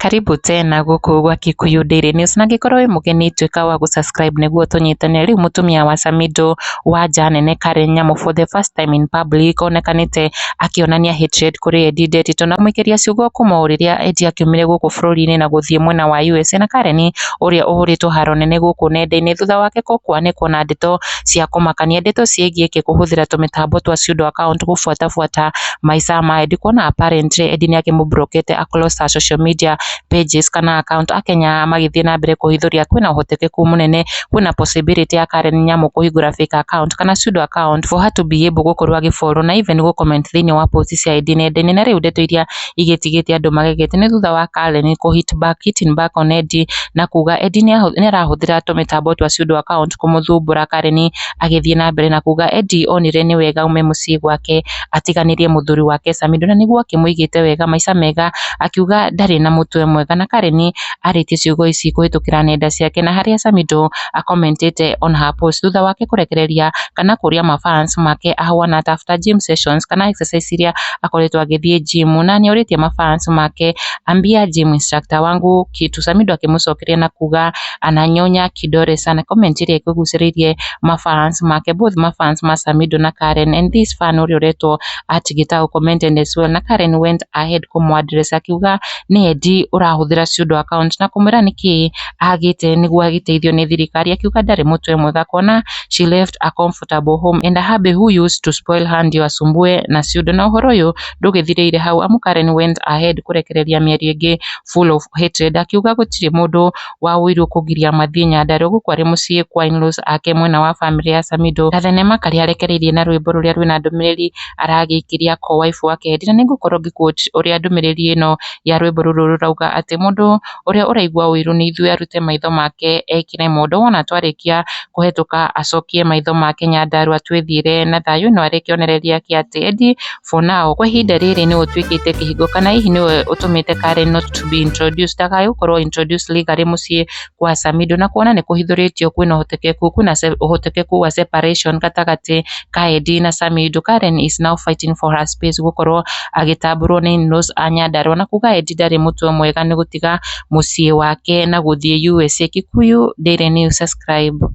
Karibu tena gũkũ gwa Kikuyu Daily News na angĩkorwo wĩ mũgeni tuĩka wa gũ subscribe nĩguo tũnyitane. Rĩu mũtumia wa Samido wa nja nene Karen Nyamu for the first time in public onekanĩte akĩonania hatred kũrĩ Eddie Nderitu na kũmũikĩria ciugo kuma o rĩrĩa Eddie akiumire gũkũ bũrũri-inĩ na gũthiĩ mwena wa USA na Karen ũrĩa ũhũrĩtwo haro nene gũkũ nenda-inĩ thutha wake kwanĩkwo na ndeto cia kũmakania, ndeto ciĩgiĩ Eki kũhũthĩra tũmĩtambo twa pseudo account gũbuatabuata maica ma Edi kuona apparently Edi nĩakĩmũmburokete a close her social media pages kana account Akenya magĩthiĩ na mbere kũhithũria kwĩna ũhotekeku mũnene kwĩna possibility ya Karen Nyamu kũhingũra fake account kana pseudo account for her to be able gũkorwo agĩ follow na even gũ comment thĩinĩ wa post cia Edi nenda-inĩ na rĩu ndeto iria igĩtigĩtie andũ magegete nĩ thutha wa Kaleni kũ hit back hitting back on Eddie na kuga Eddie nĩarahũthĩra tũmĩtambo twa pseudo account kũmũthumbũra Kaleni agĩthiĩ na mbere na kuga Eddie onire nĩ wega aume mũciĩ gwake atiganĩrie mũthuri wake Samido na nĩguo akĩmũigĩte wega maica mega akiuga ndarĩ na mũtwe mwega na Kaleni arĩtie ciugo ici kũhĩtũkĩra nenda ciake na harĩa Samido a comment ĩte on her post thutha wake kũrekereria kana kũria ma fans make ahuana ata after gym sessions kana exercise iria akoretwo agĩthiĩ gym na nĩ orĩtie ma fans make ambia gym instructor wangu kitu Samido akĩmũcokeria na kuga ananyonya kidore sana comment ĩrĩa ĩkũgucĩrĩirie ma fans make both ma fans ma Samido na Karen and this fan ũrĩa ũretwo at gĩtaũ commented as well na Karen went ahead kũmũ address akiuga nĩ Edi ũrahũthĩra pseudo account na kũmwĩra nĩkĩ agĩte nĩguo agĩteithio nĩ thirikari akiuga ndarĩ mũtwe mwega kuona she left a comfortable home and a hubby who used to spoil her ndio asumbue na ciũndũ na ũhoro ũyũ ndũgĩthirĩire hau amu Karen went ahead kũrekereria mĩario ĩngĩ full of hatred akiuga gũtirĩ mũndũ waũirwo kũgiria mathiĩ Nyandarua gũkũ arĩ mũciĩ kwa in-laws ake mwena wa family ya Samido na thenema karĩa arekereirie na rwĩmbo rũrĩa rwĩna ndũmĩrĩri aragĩkĩria ko wife wake hendi na nĩngũkorwo ngĩ-quote ũrĩa ndũmĩrĩri ĩno ya rwĩmbo rũrũ rũrauga atĩ mũndũ ũrĩa ũraigua ũiru nĩ ithuĩ arute maitho make ekĩre mondo, wona twarĩkia kũhĩtũka acokie maitho make Nyandarua twĩthiĩre na thayũ, ĩno arĩ kĩonereria gĩake atĩ Eddie for now kwa ihinda rĩrĩ nĩwe ũtuĩkĩte kĩhingo kana hihi nĩwe ũtũmĩte Kare not to be introduced, ndakae gũkorwo introduced legally mũciĩ kwa Samido, na kuona nĩ kũhithũrĩtio kwĩna ũhotekeku, kwĩna ũhotekeku wa separation gatagatĩ Kaedi na Sami Yudu Karen is now fighting for her space gũkorwo agĩtambũrwo nĩ Innoss a Nyandarua na kuga Edi ndarĩ mũtwe mwega nĩ gũtiga mũciĩ wake na gũthiĩ USA. Kikuyu Daily News Subscribe.